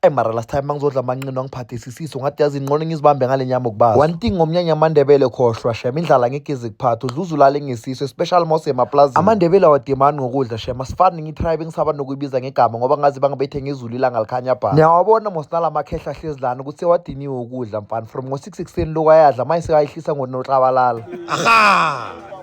Hey mara last time mangizodla amanqino angiphathe isisiso ngathi yazi inqono ngizibambe ngale nyama okubaza one thing ngomnyanya amandebele khohlwa shem indlala ngeke ize kuphatha udluza ulale ngesiso especially mose emaplazini amandebele awadimani ngokudla shem asifani ngitribe engisaba nokuyibiza ngegama ngoba ngazi bangabethe ngezulu ilanga likhanya bha niyawabona mos nalamakhehla ahlezi lana ukuthi sewadiniwe ukudla mfana from ngo-six ekuseni lokhu ayadla manje sekayehlisa ngonoklabalala aha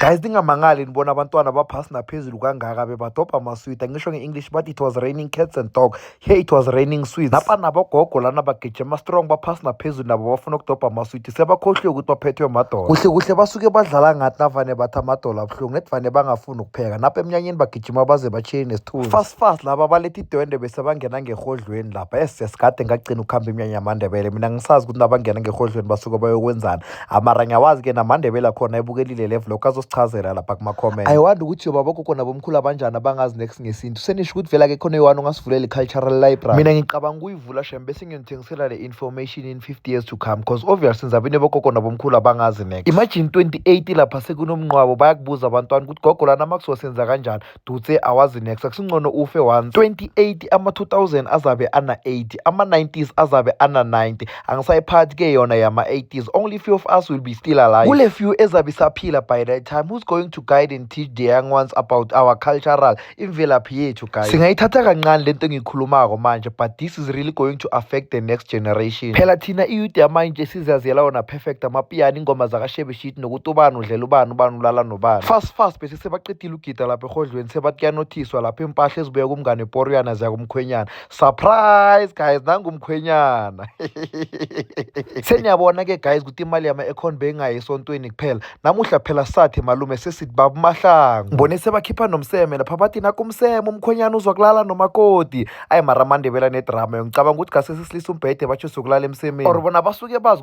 guys ningamangali nibona abantwana baphasi naphezulu kangaka bebadobha amaswidi angisho nge-english but it was raining cats and dog here it was raining sweets napa nabogogo lana bagijima strong baphasi naphezulu nabo bafuna ukudobha amaswidi sebakhohliwe ukuthi baphethwe madola kuhle kuhle basuke badlala ngathi navane bathi amadola abuhlungu nethi vane bangafuni ukupheka napa emnyanyeni bagijima baze bachile nesithunzi fast fast laba balethi idwende besabangena ngerhodlweni lapha esiyasikade ngagcina ukuhamba imnyanya yamandebele mina ngisazi ukuthi nabangena ngerhodlweni basuke bayokwenzana amara ngiyawazi ke namandebele akhona ebukelile level lokho azosichazela lapha kuma-comment ayiwandi ukuthi yoba bogogo nabomkhulu abanjani abangazi next ngesintu senisho ukuthi vela ke khona yohani ungasivulela i-cultural library mina ngicabanga ukuyivula shem bese ngiyonithengisela le information in 50 years to come because obviously nizabine bogogo nabomkhulu abangazi next imagine 28 lapha sekunomnqwabo bayakubuza abantwana ukuthi gogo lana makuzosenza kanjani dutse awazi next akusingcono ufe once 28 ama-2000 azabe ana-80 ama-90s azabe ana-90 angisayiphathi ke yona yama-80s only few of us will be still alive kule few ezabe isaphila by that time who's going to guide and teach the young ones about our cultural imvelaphi yethu guys singayithatha kancane lento engiyikhulumako manje but this is really going to affect the next generation phela thina iyouth yamanje sizaziyela wona perfect amapiyani ingoma zakashebeshit nokuthi ubani udlela ubani ubani ulala nobani fast fast besisebaqedile Gida lapha egodlweni sebathi kuyanothiswa lapha impahla ezibuya kumngane poriyana ziya kumkhwenyana surprise guys nangumkhwenyana seniyabona ke guys ukuthi imali yama econ beyingayi esontweni kuphela namuhla phela sathe malume sesithi baba umahlangu mbone sebakhipha nomseme lapha bathi nakumseme umkhwenyana uzwa kulala nomakoti ayi mara amandebela nedrama yongicabanga ukuthi gase sesilisa umbhede batsho sokulala emsemeni or bona basuke bazi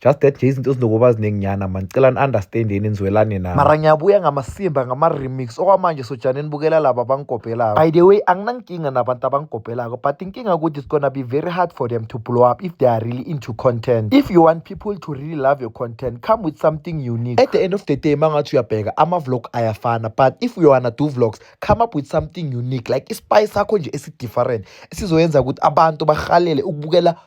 just that nje izinto zinokuba zininginyana mani cela ni-understand yeni nizwelane nami mara ngiyabuya ngamasimba ngama-remix okwamanje sojane nibukela laba abangigobhelayo by the way anginankinga nabantu abangigobhelako but inkinga ukuthi it's gonna be very hard for them to blow up if they are really into content if you want people to really love your content come with something unique at the end of the day mangathi uyabheka ama-vlog ayafana but if you wanna do vlogs come up with something unique like ispice sakho nje esi-different esizoyenza ukuthi abantu bahalele ukubukela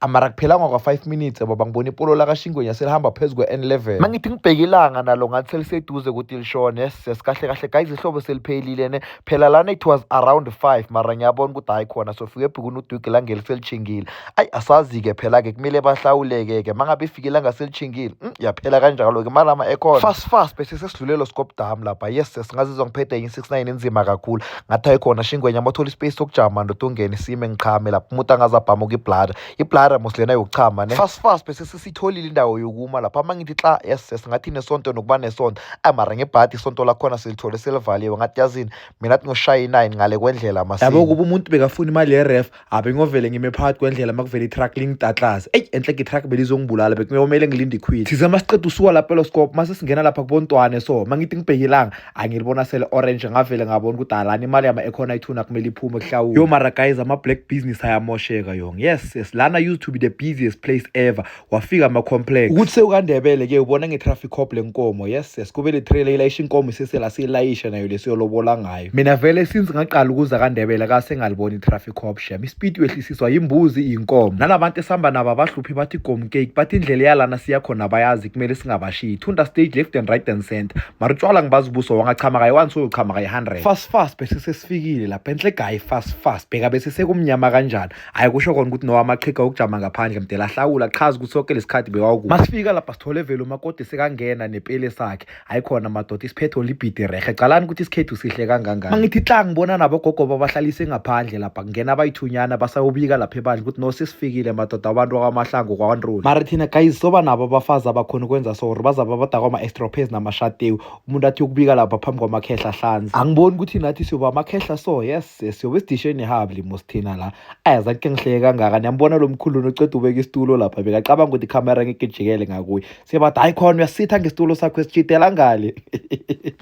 amara kuphelanga kwa-five minutes baba ngibona ipolo lakashingwenya selihamba phezu kwe-n level ma ngithi ngibheke ilanga nalo ngathi seliseduze ukuthi lishone ses kahle kahle guys ihlobo seliphelile ne phela lana it was around five mara ngiyabona ukuthi hhayi khona sofike ebhukuni udwigi langeli selishingile ayi asazi-ke phela-ke kumele bahlawuleke-ke ma ngabe ifike ilanga selishingile mm, yaphela kanjalo-ke malama ekhona fast fast bese sesidlulelo scope dam lapha yes ses ngazizwa ngiphethe yin-six nine enzima kakhulu ngathi ayikhona shingwenya mothola ispace sokujama ndoda ungene sime ngiqhame lapho umuntu angaze abhamuka ibladder ibladder mos lena yokuchama ne fast fast bese sisitholile indawo yokuma lapho ama ngithi xa yes yes ngathi nesonto nokuba nesonto ay mara ngebhadi isonto lakhona silithole selivaliwe ngathi yazini mina athi ngoshaya i-nine ngale kwendlela masini yabo kuba umuntu bekafuna imali yeref abe ngovele ngime phakathi kwendlela makuvele itruck lingitatlaze eyi enhle itruck belizongibulala bekuyomele ngilinde ikhwili thize uma siqeda usuka lapha eloscope uma sesingena lapha kubontwane so uma ngithi ngibhekilanga angilibona sele orange ngavele ngabona ukuthi alani imali yama ekhona ithuna kumele iphume kuhlawula yo mara guys ama black business ayamosheka yong yes yes lana used to be the busiest place ever wafika ama-complex ukuthi sewukandebele ke ubona nge-traffic cop le nkomo yes yes kube le trailer ilayisha inkomo isesela siyilayisha nayo lesiyolobola ngayo mina vele since ngaqala ukuza kandebele kase ngalibona i-traffic cop shem ispeed wehlisiswa yimbuzi iyinkomo nalabantu esihamba nabo abahluphi bathi gom cake bathi indlela yalana siya khona bayazi kumele singabashiyi thunda stage left and right and center mara utshwala ngibazi ubuso wangachama kayi one soyochama kayi 100 fast fast bese sesifikile lapha enhle gayi fast fast bheka bese sekumnyama kanjani hayi kusho kona ukuthi nowamaqhiga okujama ngaphandle mdela ahlawula chaza ukuthi soke lesikhathi bekawuku masifika lapha sithole vele umakoti sekangena nepele sakhe hayi khona madoda isiphetho libhidi rehe calani ukuthi isikhethu sihle kangangani mangithi tla ngibona nabogogo babahlalise ngaphandle lapha kungena abayithunyana basayobika lapha ebandla ukuthi no sesifikile madoda abantu akwamahlango kwawanroli mara thina guys soba nabo abafazi abakhona ukwenza so or bazaba abadakwa ama-estrophase namashatewu umuntu athi ukubika lapha phambi kwamakhehla hlanzi angiboni ukuthi nathi siyoba amakhehla so yes siyobe sidishe nehabi limos thina la ayazange ke ngihleke kangaka niyambona lo mkhuluni oceda ubeka isitulo lapha bekacabanga ukuthi ikhamera ngeke ijikele ngakuye siyabada hayi khona uyasitha ngesitulo sakho esitshidela ngale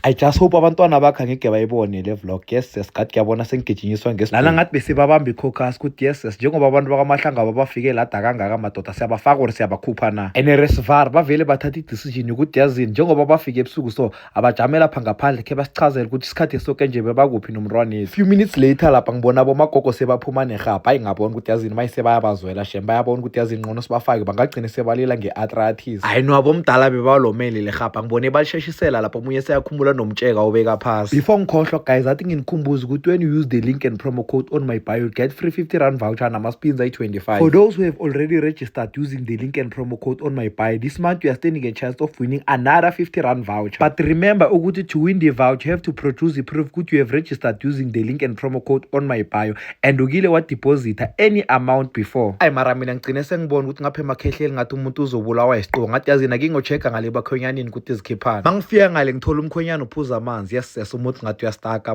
i just hope abantwana bakhe angeke bayibone le vlog yes yes ngathi kuyabona sengigijinyiswa ngesu lana ngathi besibabamba i-cocas ukuthi yes yes njengoba abantu bakamahlanga babafike lada kangaka amadoda siyabafaka or siyabakhupha na and resvar bavele bathatha i-decision yokuthi yazini njengoba bafike ebusuku so abajame lapha ngaphandle khe basichazele ukuthi isikhathi soke nje bebakuphi nomntwanethu few minutes later lapha ngibona bomagogo sebaphuma nerhabha hayi ngabona ukuthi yazini mayise bayabazwela shem bayabona ukuthi yazini nqono sibafake bangagcine sebalila nge-atratis hayi no abomdala bebalomele le rhabha ngibone balisheshisela lapho omunye seyakhumula nomtsheka obeka phasi before ngikhohlwa guys athi nginikhumbuze ukuthi when you use the link and promo code on my bio get free 50 rand voucher nama-spins ayi-25 for those who have already registered start using the link and promo code on my buy this month you are standing a chance of winning another 50 rand voucher but remember ukuthi to win the voucher you have to produce the proof ukuthi you have registered using the link and promo code on my bio and ukile wadeposita any amount before ayi mara mina ngigcine sengibona ukuthi ngapha emakhehleli ngathi umuntu uzobulawa yisiqo ngathi yazi nake ngochecka ngale bakhonyanini ukuthi izikhiphana mangifika ngale ngithola umkhonyana uphuza amanzi yes yes umuthi ngathi uyastaka